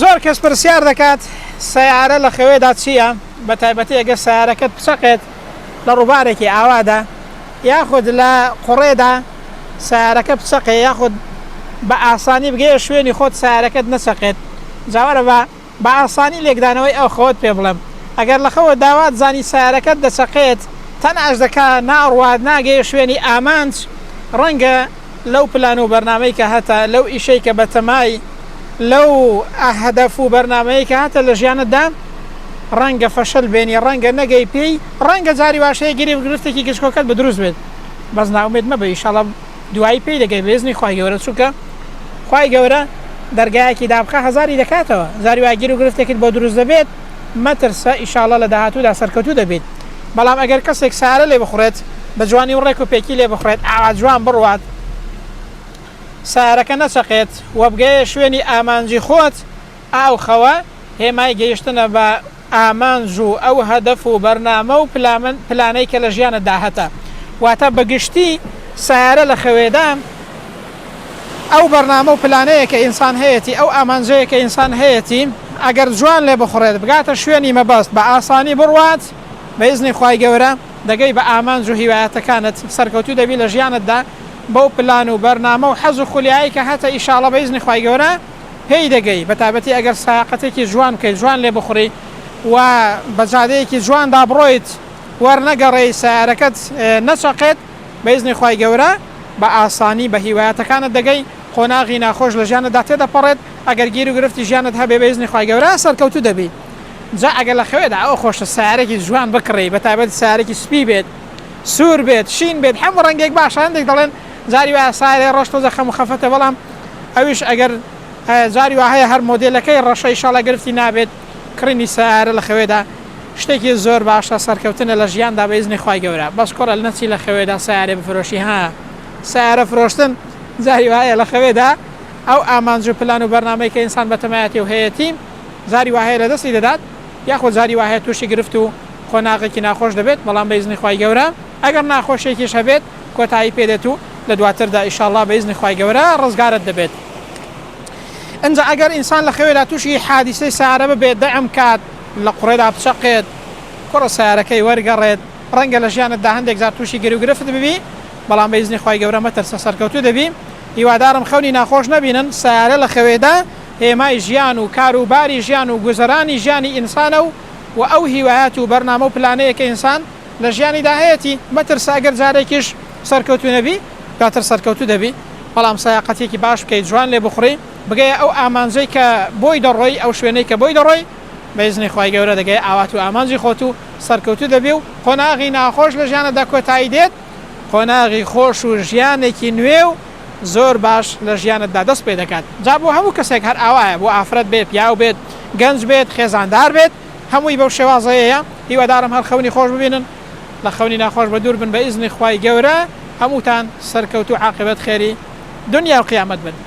زۆر کەس پرسیار دەکات سیارە لە خەوێدا چییە بە تایبەتی ئەگەر سیارەکەت بچەقێت لە ڕووبارێکی ئاوادا یاخود لە قوڕێدا سیارەکە بچەقێ یاخود بە ئاسانی بگەیە شوێنی خۆت سیارەکەت نەچەقێت جاوەرە بە بە ئاسانی لێکدانەوەی ئەو خەوەت پێ بڵێم ئەگەر لە خەوە داوات زانی سەیارەکەت دەچەقێت تەناش دەکا ناڕوات ناگەیە شوێنی ئامانج ڕەنگە لەو پلان و بەرنامەی کە هەتە لەو ئیشەی کە بەتەمای لەو هەدەف و بەرنامەی کە هەتە لە ژیانت دا ڕەنگە فەشەل بێنی ڕەنگە نەگەی پێی ڕەنگە جاری واش هەیە گرفت گرفتێکی گچکۆکەت بە دروست بێت بەس نائومێد مەبە ئیشاڵا دوایی پێی دەگەی بەیزنی خوای گەورە چونکە خوای گەورە دەرگایەکی دابخا هەزاری دەکاتەوە جاری وا گیرو گرفتێکت بۆ دروست دەبێت مەترسە ئیشاڵا لە داهاتوودا سەرکەوتوو دەبیت بەڵام ئەگەر کەسێک سارە لێ بخوڕێت بە جوانی و ڕێک و پێکی لێ بخوڕێت ئاوا جوان بڕوات سارەکە نەچەقێت وەبگەیە شوێنی ئامانجی خۆت ئاو خەوە هێمای گەیشتنە بە ئامانج و ئەو هەدەف و بەرنامە و پلانەی کە لە ژیانت دا هەتە. واتە بە گشتی سەیارە لە خەوێدان ئەو بەرنامە و پلانەیە کە ئینسان هەیەتی، ئەو ئامانجەیە کە ئینسان هەیەتی، ئەگەر جوان لێ بخوڕێت بگاتە شوێنی مەبەست بە ئاسانی بڕوات بە ئیزنی خوای گەورە دەگەی بە ئامانج و هیوایەتەکانت سەرکەوتوو دەبی لە ژیانت دا بەو پلان و بەرنامە و حەز و خولیایەی کە هەتە ئیشاڵڵە بە ئیزنی خوای گەورە پێی دەگەی بەتایبەتی ئەگەر سایەقەتێکی جوان بکەیت جوان لێ بخوری و بە جادەیەکی جواندا بڕۆیت وەرنەگەڕێی سەیارەکەت نەچەقێت بە ئیزنی خوای گەورە بە ئاسانی بە هیوایەتەکانت دەگەی قۆناغی ناخۆش لە ژیانتدا تێدەپەڕێت ئەگەر گیر و گرفتی ژیانت هەبێ بە ئیزنی خوای گەورە سەرکەوتوو دەبی جا ئەگەر لە خەوێدا ئەوە خۆشە سەیارەکی جوان بکڕی بەتایبەت سەیارەکی سپی بێت سوور بێت شین بێت هەموو ڕەنگێک باشە هەندێک دەڵێن جاری وایە سایەێ ڕەش تۆزێ خەم و خەفەتە بەڵام ئەویش ئەگەر جاری وا هەیە هەر مۆدێلەکەی ڕەشە ئیشاڵا گرفتی نابێت کڕینی سەیارە لە خەوێدا شتێکی زۆر باشە سەرکەوتنە لە ژیاندا بە ئیزنی خوای گەورە بەس کوڕە نەچی لە خەوێدا سەیارێ بفرۆشی ها سەیارە فرۆشتن جاری وایە لە خەوێدا ئەو ئامانج و پلان و بەرنامەی کە ئینسان بە تەمایەتی و هەیەتی جاری وا هەیە لە دەستی دەدات یاخۆ جاری وا هەیە تووشی گرفت و قۆناغێکی ناخۆش دەبێت بەڵام بە ئیزنی خوای گەورە ئەگەر ناخۆشیێکیش هەبێت کۆتایی پێدێت و لە دواتردا ئیشاڵڵا بە ئیزنی خوای گەورە ڕزگارت دەبێت ئنجا ئەگەر ئینسان لە خەوێدا تووشی حادیسەی سارە ببێت دەعم کات لە قوڕێدا بچەقێت کوڕە سارەکەی وەرگەڕێت ڕەنگە لە ژیانتدا هەندێک جار تووشی گرو گرفت ببی بەڵام بە ئیزنی خوای گەورە مەترسە سەرکەوتوو دەبی هیوادارم خەونی ناخۆش نەبینن سارە لە خەوێدا هێمای ژیان و کار و باری ژیان و گوزەرانی ژیانی ئینسانە و و ئەو هیوایەت و بەرنامە و پلانەیە کە ئینسان لە ژیانیدا هەیەتی، مەترسە ئەگەر جارێکیش سەرکەوتوو نەبی، دواتر سەرکەوتوو دەبی، بەڵام سایاقەتیەکی باش بکەی، جوان لێ بخوڕی، بگەیە ئەو ئامانجەی کە بۆی دەڕۆی، ئەو شوێنەی کە بۆی دەڕۆی، بە ئیزنی خوای گەورە دەگەیە ئاوات و ئامانجی خۆت و سەرکەوتوو دەبی و قۆناغی ناخۆش لە ژیانتدا کۆتایی دێت، قۆناغی خۆش و ژیانێکی نوێ و زۆر باش لە ژیانتدا دەست پێ دەکات، جا بۆ هەموو کەسێک هەر ئاوایە، بۆ ئافرەت بێت، پیاو بێت، گەنج بێت، خێزاندار بێت. هەمووی بەو شێوازەیەیە هیوادارم هەر خەونی خۆش ببینن لە خەونی ناخۆش بەدوور بن بە ئیزنی خوای گەورە هەمووتان سەرکەوتوو عاقبەت خێری دونیا و قیامەت بن.